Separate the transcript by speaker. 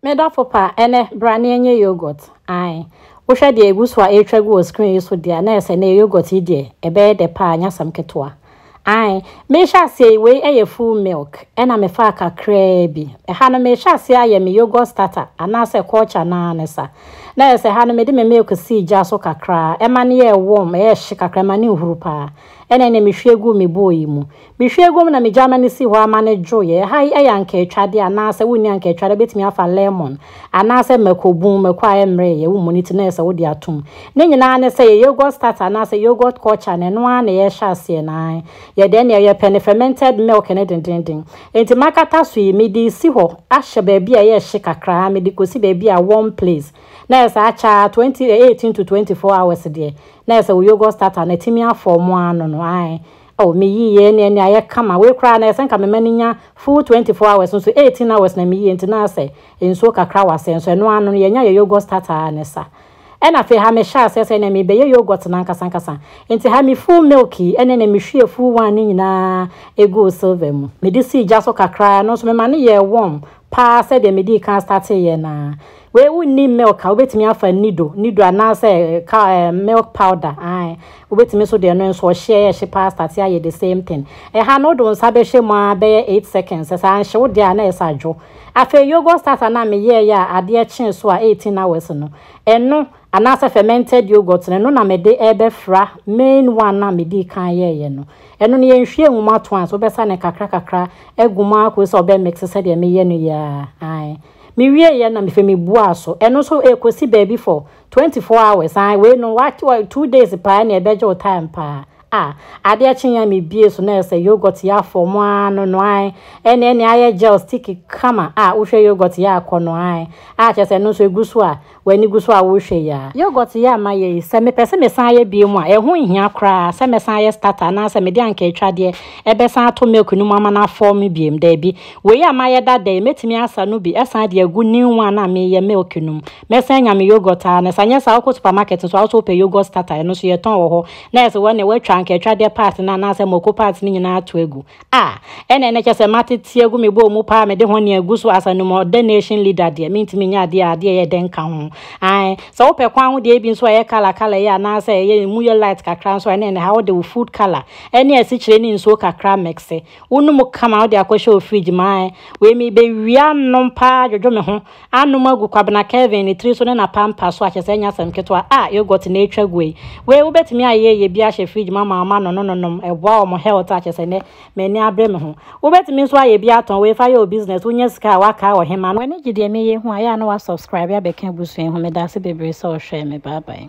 Speaker 1: Me dɔfo pa, ɛnɛ, bra na yɛnyɛ yoghurt. Ae. Wohwɛ deɛ egu so a ɛretwa gu wɔ screen yi so deɛ a, na ɛyɛ sɛ ɛnnɛ yoghurt yi deɛ, ɛbɛyɛ dɛ paa, nyɛ asɛm ketewa. Ae. Merehyɛ aseɛ yi, wei yɛ full milk, ɛna mefaa kakraa bi. Ɛha no, merehyɛ aseɛ ayɛ me yoghurt starter, anaasɛ culture no ara ne sa. Na ɛyɛ sɛ ɛha no, mede me milk sii gya so kakra, ɛma no yɛɛ warm, ɛyɛɛ hye kakra, ɛma no nhuru paa. Ɛna ɛnna mehwie guu me bowl yi mu. Mehwɛ aguam na migyaa m'ani sii hɔ ara ma no dwoeɛ. Ɛha yi yɛ ankaatwadeɛ anaa sɛ wonni ankaatwadeɛ a, wobɛtumi afa lemon anaa sɛ mako bun, mako a ɛmmereeɛ, wommɔ ne ti na ayɛ sɛ wode atom. Ne nyinaa ara ne sɛ ɛyɛ yogurt starter anaa sɛ yogurt culture no, ɛno ara na yɛrehyɛ aseɛ no ara. Yɛ dɛn? Nea yɛpɛ ne fermented milk no dendeenden. Enti m'akata so yi, mede resi hɔ ahyɛ baabi a ɛyɛ hye kakra ara, mede kɔsi baabi a warm place. Na ayɛ sɛ akyɛ ara, 20, 18 to 24 hours deɛ, na ayɛ sɛ wo yogurt starter no atumi afɔɔmo ano no, ae, Oh me yiyɛ ne ɛne ayɛ kama wei koraa na ɛsɛ nka me ma no nya full twenty four hours nso eighteen hours na me yiyɛ nti na asɛ nsuo kakra wɔ aseɛ nso ɛno ano no yɛnya yɛ yoghurt starter a na ɛsa ɛna afei ha me hyɛ aseɛ sɛ ɛnɛ me bɛ yɛ yoghurt no ankasa ankasa nti ha me full milk yi ɛne ɛnɛ me hwie full one ne nyinaa eguu silver mu me de sii gya so kakra ɛno nso me ma no yɛɛ warm paa sɛdeɛ me dii kan starteɛ no ara Wei wonni milk a wobɛtumi afa nido nido anaasɛ ka eh, milk powder ae wobɛtumi nso deɛ no nso ɔhyeɛ yɛhye paa starte ayɛ the same thing ɛha no wode wo nsa bɛhyɛ mu a bɛyɛ 8 seconds ɛsɛ anhye wo deɛ a na ɛsɛ adwo afei yogurt starter no a meyɛɛyɛ a adeɛ kyee so a 18 hours no ɛno anaasɛ fermented yogurt no ɛno na mede ɛbɛfra main one no a medii kan yɛɛyɛ no ɛno no yɛnhwie ngu mu ato a nso wobɛsa ne kakra kakra agu mu akɔ sɛ ɔbɛ mix sɛdeɛ meyɛ no yɛ a ae Mewieeɛ na mefei mebuaa so. Ɛno nso ɛkɔsi baabi for twenty four hours. Ae wei no wa wa two days paa na ɛbɛgye wo time paa. Ah, adeɛ kye yɛn mebie so na ɛyɛ sɛ yogurt yɛ afɔ mo ara no no ae. Ɛne ɛne ayɛ gel stick kama a wohwɛ yogurt yɛ akɔ no ae. A kyerɛ sɛ ɛno nso ɛgu so a w'ani gu so a worehwɛ yi ara. Yogurt yɛ a mayɛ yi, sɛ mepɛ sɛ mesan yɛ biom a, ɛho nhia koraa sɛ mɛsan ayɛ starter anaasɛ mede anka atwadeɛ ɛbɛsan ato milk no mu ama no afɔw me biom. Daabi. Wei a mayɛ dada yi, mɛtumi asa no bi ɛsan de agu new one a mereyɛ milk no mu. Mɛsan anya me yogurt ara no. Sɛ anyɛ saa a, wokɔ supermarket nso a, wo nso wopɛ yogurt starter, ɛno nso yɛtɔn wɔ hɔ. Na ɛsɛ wɔn deɛ wɔatwa anka atwadeɛ part no anaasɛ mako part no nyinaa ato agu. A, ɛna ɛna kyɛ sɛ mate tia gu me bɔɔ mu paa mede ho ne agu so as an ɔdɛ nation leader deɛ mentumi nyɛ adeɛ a adeɛ yɛ dɛ nka ho ae sɛ wopɛ kwan ho deɛ ebi nso ɛyɛ kala kala yɛ anaasɛ ɛyɛ mu yɛ light kakra nso ɛna ɛna ha wode wo food kala ɛne asikyire ne nsuo kakra mixe wonom kama wode akɔhyɛ wo fridge ma ae wei mebɛwia nom paa dwodwo me ho anom agu Kwabena Kelvin ne tiri so ne n'apampa so akyɛ sɛ ɛnyɛ asɛm ketewa. Ah, yogurt na etwa gu ei. Wei wobɛtumi ayɛ yɛ bi ahyɛ fridge mu ama wɔn ano no nonom, ɛboa wɔn health a kyɛ sɛ nnɛ m'ani abere me ho. Wobɛtumi nso ayɛ bi atɔn wei fa yɛ wo business wonya sika a woaka ɔhema no. W'ani gye deɛ meyɛ ho a yɛ a na wa subscribe abɛka abusua yi ho, medaase bebree sɛ ɔhwɛɛ me bye bye.